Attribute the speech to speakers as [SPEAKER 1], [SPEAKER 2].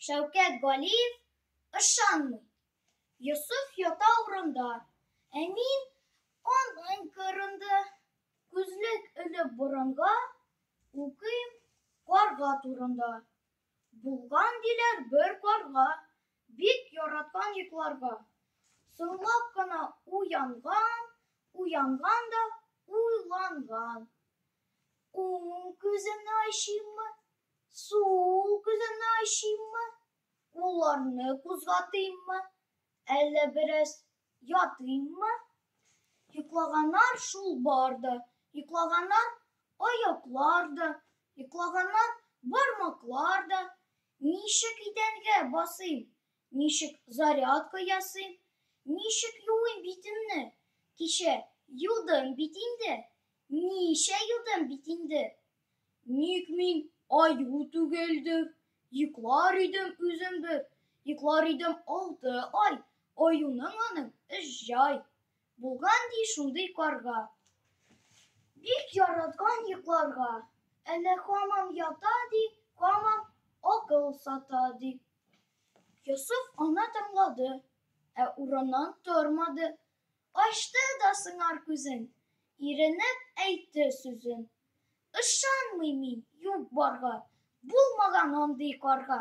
[SPEAKER 1] Шәүкәт Галиев ышанмый. Йосыф ята урында, ә мин аның кырында күзлек элеп борынга укыйм карга турында. Булган диләр бер карга, бик яраткан йокларга. Соңлап кына уянган, уянган да уйланган. Уң күземне ачыйммы, Сул күземне ачыйммы, кулларны кузгатыйммы, әллә бераз ятыйммы? Йоклаганнар шул бар да, йоклаганнар аяклар да, йоклаганнар бармаклар да. Ничек идәнгә басыйм, Ничек зарядка ясыйм, ничек юыйм битемне? Кичә юдым бит инде, ничә юдым бит инде. Ник мин аю түгелдем, йоклар идем үзем бер, йоклар идем алты ай, аюның аның өч җай. Булган ди шундый карга. Бик яраткан йокларга. Әнә хамам ята ди, хамам акыл сата ди. Йосыф ана тыңлады, ә урыннан тормады. Ачты да сыңар күзен, иренеп әйтте сүзен. Ышанмый мин юк барга, булмаган андый карга.